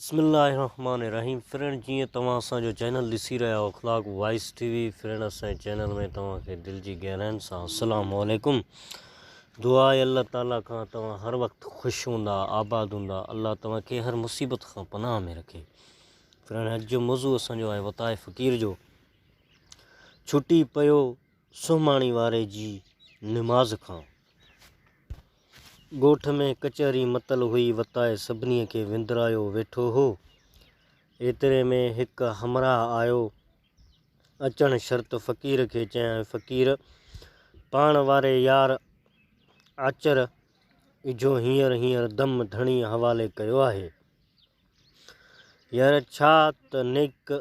بسم الله الرحمٰن الرحيم فرينڊ جيئن توهان اسان جو چينل ڏسي رهيا آهو Akhlaq voice TV friend اسان جي چينل ۾ توهان کي دل جي گهراين سان السلام عليڪم دعا آهي الله تعالي کان توهان هر وقت خوش هوندا آباد هوندا الله توهان کي هر مصيبت کان پناهه ۾ رکي فرينڊ اڄ جو موضوع اسان جو آهي وتاء فقير جو ڇٽي پيو سهماڻي واري جي نماز کان ڳوٺ ۾ ڪچهري متل هئي وتائي سڀني کي وندرايو ويٺو هو. ايتري ۾ هڪ همراهه آيو. اچڻ شرط فقير کي چيائين فقير! پاڻ واري يار آچر اجهو هينئر هينئر دم ڌڻيء حوالي ڪيو آهي. يار ڇا ته نيڪ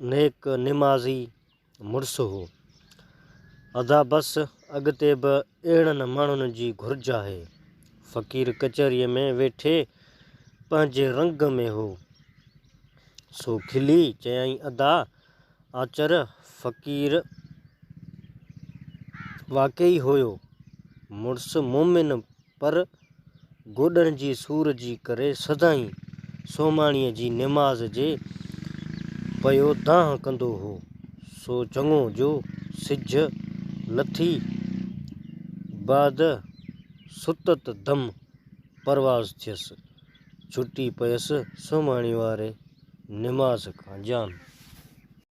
نيڪ نمازي مڙس هو. ادا بس اڳتي به اهڙن ماڻهن جي گهرج آهي. فقير ڪچهريء ۾ ويٺي پنهنجي رنگ ۾ هو، سو کلي چيائين ادا آچر فقير واقعي هيو مڙس مومن پر گوڏن جي سور جي ڪري سدائين سومهاڻيء جي نماز جي پيو دانهن ڪندو هو، سو چڱو جو سج لٿي بعد ستت دم پرواز ٿيس، ڇٽي پيس سومهاڻي واري نماز کان جان.